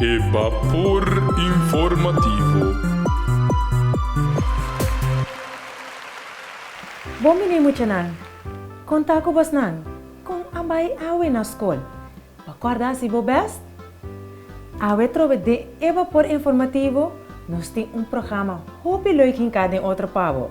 E Bapor Informativo. Bon bini muchanan! Kon ta ku bosnan? Kon a bai awe na skol? Bo kòrda hasi bo bèst? Awe trobe den e Bapor Informativo nos tin un programa hopi lèu hinká den otro pa bo.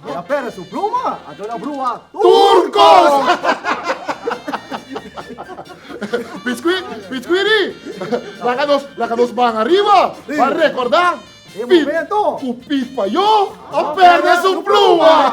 Di a pera su pluma, a duna brua tur kos. Piscui, piscui ri? Laga nos, laga nos ban ariba pa recorda e momento cu Pit Payo a perde su pluma.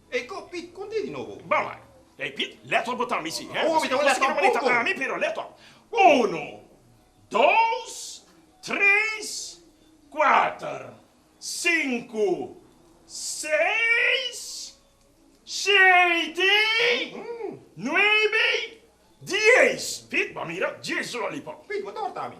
Ey ko Pit con te di nobo. Bamba. Ey Pit, let op bo ta mi si, he? Owo mi ta un let op un con. Ami pero let op. Uno, dos, tres, kuater, sinku, seis, shete, nuebe, dies. Pit, bo a mira, dies lollipop. Pit, bo ta horta mi.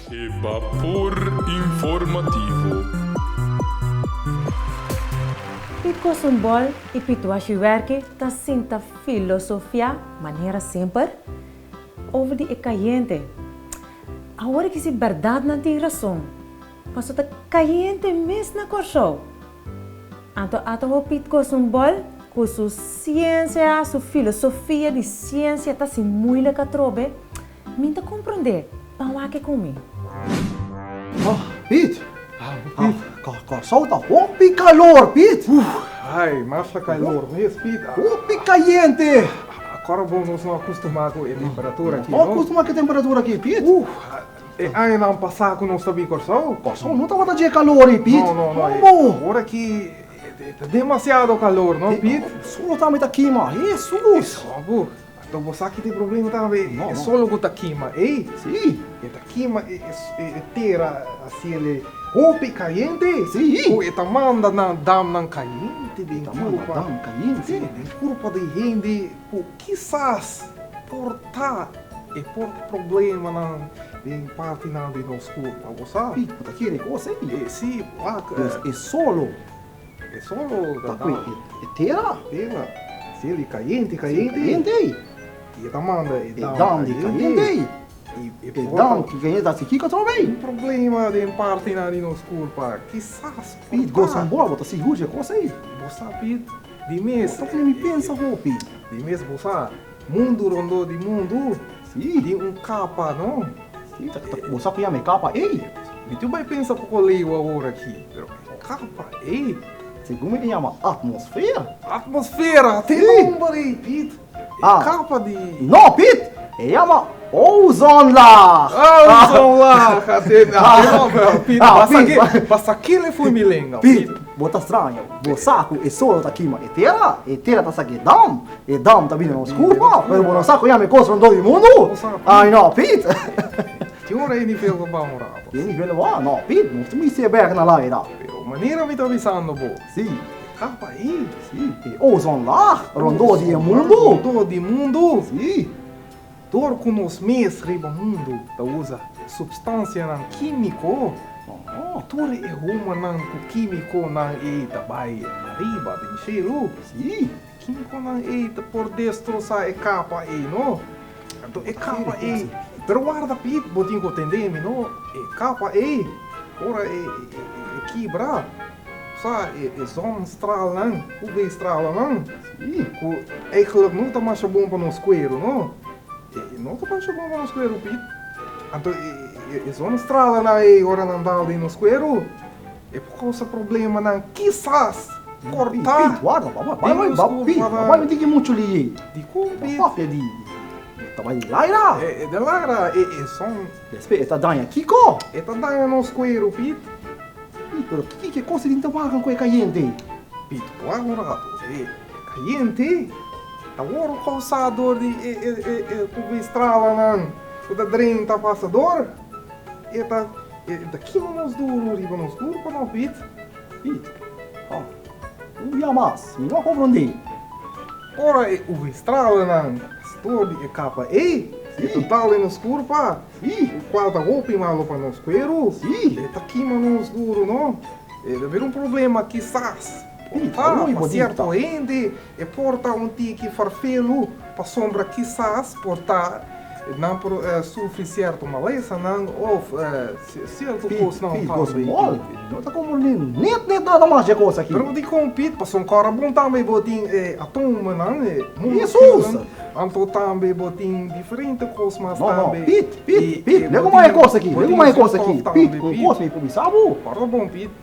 E Bapor Informativo. E kos un bòl i pituashi wèrk'e ta sinta filosofiá manera semper over di e kayente. Awor e kisti bèrdat nan tin rason, paso ta kayente mes na Kòrsou. Anto a ta hopi kos un bòl ku su siensia, su filosofia di siensia ta sin muilek atrobe. Mi ta comprende. Pan wak e cu mi. Oh, Piet! Corsou ta hopi calor, Piet! Ay, mas ta calor mes, Piet. Hopi cayente! Acorda bo, nos no a custumá cu e temperatura aki, no? No a custumá cu e temperatura aki, Piet. E añanan pasá cu nos ta bin Corsou. Corsou no tabata dje calor ei, Piet. No, no, no. Ora aki ta demasiado calor, no, Piet? Su lo ta mi ta kima. Hesus! Esou, abu. Tok bo sa ki ta e problema tambe, e solo ku ta kima ei, e ta kima e tera hasi el e hopi kayente, ku e ta manda nan damnan kayente den kurpa, si, den kurpa di hende ku kisas por ta e por problemanan den partinan di nos kurpa, bo sa, si, wak, e solo. E sol lo tapa e tera. Ciel i cayente, cayente. I e ta manda e dam di cayente. E dam ki vene ta si kico ta bay. Un problema den partenan di nos culpa. Kisas por ta. Pit, gosa un boa, bo ta sigur dje cosa ey. Bo sa, Pit, di mes. Esaki mi pensa hopi. Di mes bo sa. Mundu rondó di mundu. Sí. Tin un kapa, no? Sí, ta, ta, bo sa kuya mi e kapa ei. Mi tin bai pensa poko leu awor aki, pero e kapa ei. Segun mi ta yama atmosfera. Atmosfera, te nomber ei, Pit. E kapa di. No, Pit! E yama ozonlaag. Ozonlaag, a te, a te nomber, Pit. Pasa, pasa kile foi mi lenga, Pit. Bo ta straña, bo sa cu e sol no ta kima e tera, e tera ta sa cu e dam, e dam ta bini na nos culpa, pero bo no sa cu e ami cos rondó di mundu. Ay no, Piet. Tin ora e nivel pa baha un rato. Tin e nivel pa baha? No, Piet, nos tin mester bek na laai da. Pero manera mi ta avisando bo. Sí. E capa ey. Sí, e ozonlaag rondó di e mundu. Rondó di mundu. Sí. Dor ku nos mes riba mundu ta usa supstansianan kímiko, tur e humannan ku kímikonan ei ta bai ariba den shelu. Sí, e kímikonan ei ta por destrosá e kapa ei, no? Anto e kapa ei. Pero warda Piet, bo tin ku tendé mi, no? E kapa ei, ora e kibra. Sa e zon stralnan, ku be stralanan, ku eigelik no ta masha bon pa nos kueru, no? E no ta masha bon pa nos kueru, Piet. Anto e zon stralanan ei, ora nan dal den nos kueru, e por kousa problemanan, kisas kortá den nos kueru. Piet, wak, wak, Piet, wak, wak, mi tin ke muchu lei ei. Dikon, Piet? Papia di, ta bai di laira. E den laira, e zon. Despues e ta daña kiko? E ta daña nos kueru, Pit. Pit, pero kiko e kos tin ta wagan ku e kayente? Pit, Waga un ratu. E kayente ta wor kousa dor di e UV stralanan ku ta drenta pasador. E ta kima mas duru riba nos kurpa, no, Pit. Ey, ha, un dia mas, mi no a konprondé. Ora e UV-stralenan stor di e kapa ey, e total den nos kurpa, e kual ta hopi malo pa nos kueru, e ta kima nos duru, no? E ta bira un problema kisas, ey, ha, pa sierto hende e por ta un tiki farfelu, pasobra kisas por ta nan por sufri sierto malesanan òf. Si e sierto cos nan tambe. Pi go small. No ta como ni niet ni nada mas dje cos aki. Pero di con Piet paso un cora bon tambe bo tin e atomo nan e mundo spirit nan anto tambe bo tin diferente cos mas tambe. No no Piet Piet Piet le como e cos aki le como e cos aki Piet un cos mi por bisa bo. Parda bon Piet.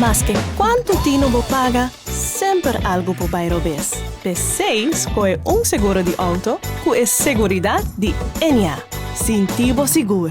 Maske kuantu tino bo paga, semper algu por bai robes. P'esei skohe un seguro di outo ku e seguridat di NA. Sinti bo sigur!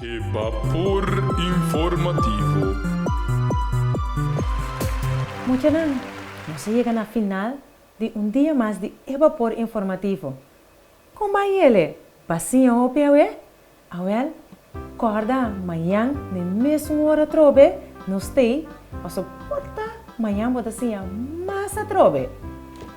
E Bapor Informativo. Muchanan, nos a yega na final di un dia mas di e Bapor Informativo. Kon ban yele? Basiña hopi awe? Awèl, kòrda mañan den mesun ora atrobe nos tei pasobra por ta mañan bo ta siña mas atrobe.